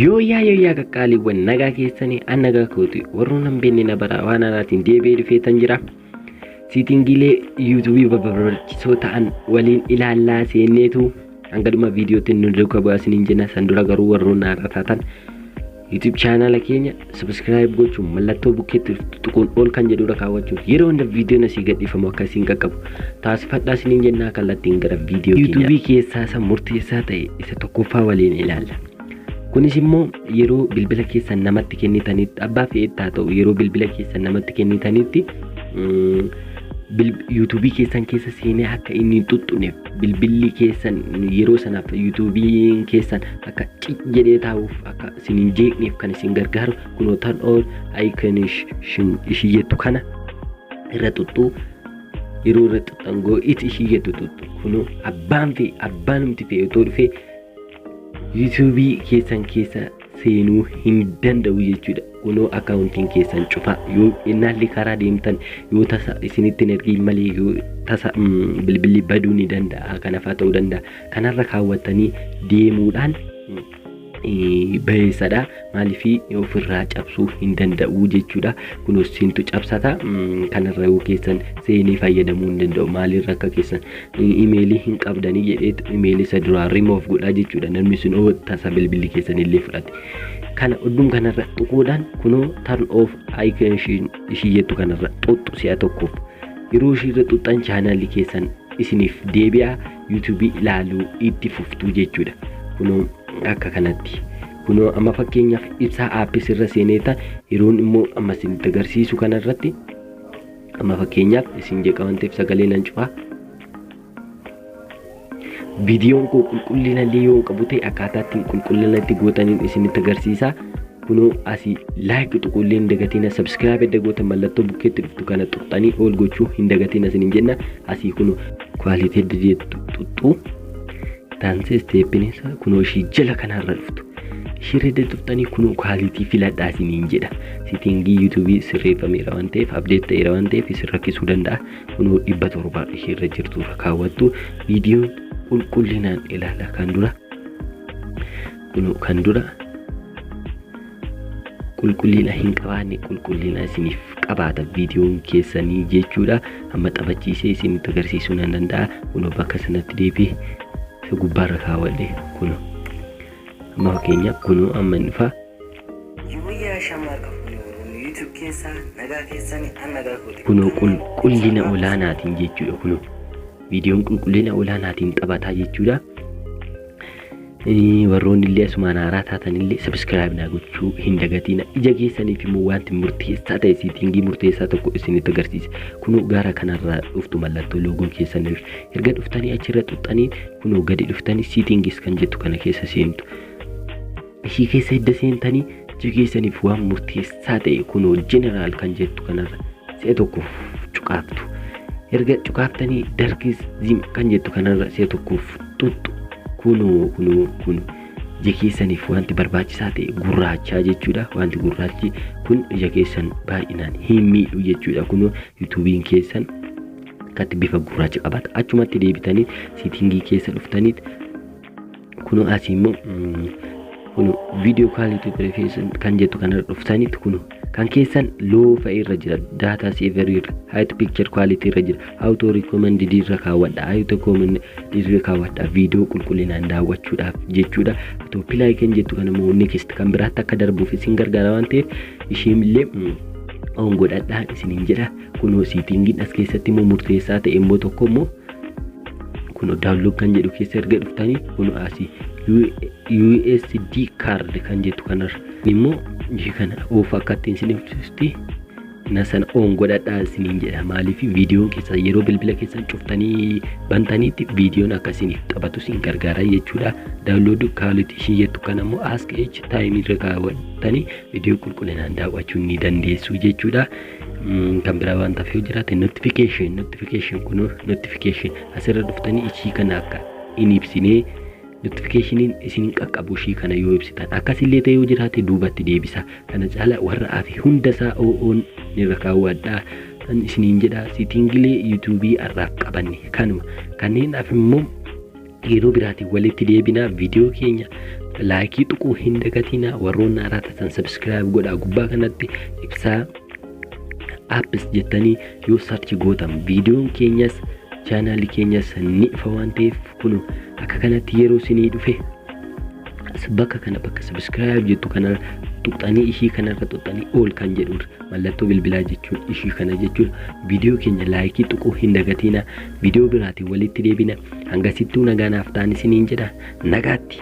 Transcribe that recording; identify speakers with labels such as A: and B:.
A: Yooyyaa yooyyaa qaqqaaliiwwan nagaa keessanii an nagaa kooti warroon hin beekne na baraa waan anaatiin deebi'ee dhufeetan jira. Siitingiilee yuutuubii barbaachisoo ta'an waliin ilaallaa seenneetu hanga dhuma viidiyootti nu duuka bu'aa isiniin jenna san dura garuu warroon haaraa taatan yuutuub chaanaala keenya Subscribe gochuun mallattoo bukkeetti tuquun ol kan jedhurra kaawwachuun yeroo hunda viidiyoon asii gadhiifamu akka isin qaqqabu taasifadhaa isiniin jennaa kallattiin gara viidiyoo keenya. Yuutuubii keessaa isa murteessaa ta'e isa tokkoffaa waliin ilaalla. Kunis immoo yeroo bilbila keessan namatti kennitanitti abbaa fe'etti haa ta'u yeroo bilbila keessan namatti kennitanitti yuutuubii keessan keessa seenee akka inni hin tuttuneef bilbilli keessan yeroo sanaaf yuutuubiin keessan akka cic jedhee taa'uuf akka isin hin jeeqneef kan isin gargaaru kunoo tan oon ayikan ishii jettu kana irra xuxxuu yeroo irra xuxxangoo itti ishii jettu xuxxu kunoo abbaan fi abbaan humti fe'ee otoo dhufee yuutuubii keessan keessa seenuu hin danda'u jechuudha. Kunoo akkaawuntiin keessan cufaa yoo innaallee karaa deemtan yoo tasa isinitti hin ergiin malee yoo tasa mm, bilbilli baduu ni danda'a kanafaa ta'uu danda'a kanarra kaawwattanii deemuudhaan mm, eh, bayeessadha maaliif ofirraa cabsuu hin danda'u jechuudha kunis siintu cabsata mm, kanarra yoo keessan seenee fayyadamuu hin danda'u maalirra akka keessan Imeelii hin qabdanii jedheetu imeelii isa duraa remove godhaa jechuudha namni sun yoo tasa bilbilli keessan illee fudhate. Kana oddum kanarra tuquudhaan kunoo turn off icon ishiin ishii jettu kanarra xuxxu si'a tokkoof. Yeroo ishiirra xuxxan chaanaalli keessan isiniif deebi'a yuutuubii ilaaluu itti fuftuu jechuudha. Kunoo akka kanatti. Kunoo amma fakkeenyaaf ibsaa aappis irra seeneeta yeroon immoo amma isinitti agarsiisu kanarratti Amma fakkeenyaaf isin jeeqa waan ta'eef sagalee nan cufa. Viidiyoon koo qulqullina illee yoo hin qabu ta'e akkaataa ittiin qulqullina itti gootaniin isinitti agarsiisa. Kunoo asii laayik tuquu illee hin dagatina. Sabskiraayib edda gootan mallattoo bukkeetti dhuftu kana tuqxanii ol gochuu hin dagatina isiniin jenna. Asii kunoo kwaalitii edda jettu tuqxu. Taansee isteeppiin isaa kunoo ishii jala kanarra dhuftu. Ishii irra dadhabtanii kunoo kaalitii filadhaa isiniin jedha. Sitingii yuutuubii sirreeffameera waan ta'eef abdeet ta'eera waan ta'eef isin rakkisuu danda'a. Kunoo dhibba torba ishii irra jirtu irra kaawwattu. Viidiyoon qulqullinaan ilaala kan dura. Kunoo kan dura qulqullina hin qabaanne qulqullina isiniif qabaata viidiyoon keessanii jechuudha amma taphachiisee isinitti agarsiisuu nan danda'a kunoo bakka sanatti deebi'e isa gubbaarra kaawwadhe kunoo amma fakkeenyaaf kunoo amma hin dhufa Yooyyaa shamaa qabdu Oromoo YouTube keessaa nagaa keessanii an nagaa kooti. kunoo qulqullina olaanaatiin jechuudha kunoo viidiyoon qulqullina olaanaatiin taphataa jechuudha Warroonnillee asumaan haaraa taatanillee subscribe naa gochuu hin dagatiina. Ija keessaniif immoo wanti murteessaa ta'e siitingii murteessaa tokko isinitti agarsiisa. Kunoo gara kanarraa dhuftu mallattoo loogoo keessan irra. Erga dhuftanii achirra xuxxanii kunoo gadi dhuftanii siitingis kan jettu kana keessa seentu. Ishii keessa edda seentanii Ija keessaniif waan murteessaa ta'e kunoo jeneraal kan jettu kanarra si'a tokkoof cuqaaftu. Erga cuqaaftanii darkis zim kan jettu kanarra si'a tokkoof tuttu. Kunoo kunoo kun ija keessaniif wanti barbaachisaa ta'e gurraachaa jechuudha. Wanti gurraachi kun ija keessan baay'inaan hin miidhu jechuudha. Kunoo yuutuubiin keessan akkatti bifa gurraacha qabata. Achumatti deebitanii siitingii keessa dhuftaniit kuno asii immoo kuno viidiyoo kaaliitii ture keessan kan jettu kanarra dhuftanitti kuno kan keessan loo fa'ee irra jira daataa seeverii irra haayit piikchar kwaalitii irra jira awutoo rikoomandidii irra kaawwadha awutoo koomandidii irra kaawwadha viidiyoo qulqullinaan daawwachuudhaaf jechuudha otoo pilaay kan jettu kana immoo neekist kan biraatti akka darbuuf isin gargaara waan ta'eef ishiin illee oon godhadhaa isiniin jedha kunoo siitingiin as keessatti immoo murteessaa ta'e immoo tokko immoo kunoo daawunlood kan jedhu keessa erga dhuftanii kunoo asii USD card kan jettu kanarra immoo ishee kana oof akka ittiin isin ibsutti na sana oon godhadhaa isiniin jedha maaliif viidiyoon keessan yeroo bilbila keessan cuftanii bantaniitti viidiyoon akka isiniif taphatu isin gargaara jechuudha daawunloodii kaaloti ishii jettu kan ammoo ask each taayimii irra kaawwattanii viidiyoo qulqullinaan daawwachuu ni dandeessu jechuudha. kan biraa waan taaf yoo jiraate notification notification kun notification asirra dhuftanii ishii kana akka hin ibsinee notifikashiniin isin qaqqabu ishii kana yoo ibsitan akkasillee ta'e yoo jiraate duubatti deebisa kana caala warra afi hundasaa oo'oon nirra kaawwadhaa kan isiniin jedha sitingilee yuutuubii har'aaf qabanne kanuma kanneen af immoo Yeroo biraatiin walitti deebinaa viidiyoo keenya laayikii tuquu hin dagatinaa warroonni haaraa taatan sabiskiraayib godhaa gubbaa kanatti ibsaa apps jettanii yoo sarchi gootan viidiyoon keenyas chaanaalli keenyas ni ifa waan ta'eef kun akka kanatti yeroo isinii dhufe bakka kana bakka sabiskiraayib jettu kana tuqxanii ishii kanarra tuqxanii ol kan jedhu mallattoo bilbilaa jechuun ishii kana jechuun viidiyoo keenya laayikii tuquu hin dagatinaa Video biraatiin walitti deebina. Hangasittuu nagaa naaf ta'an isiniin jedha. Nagaatti!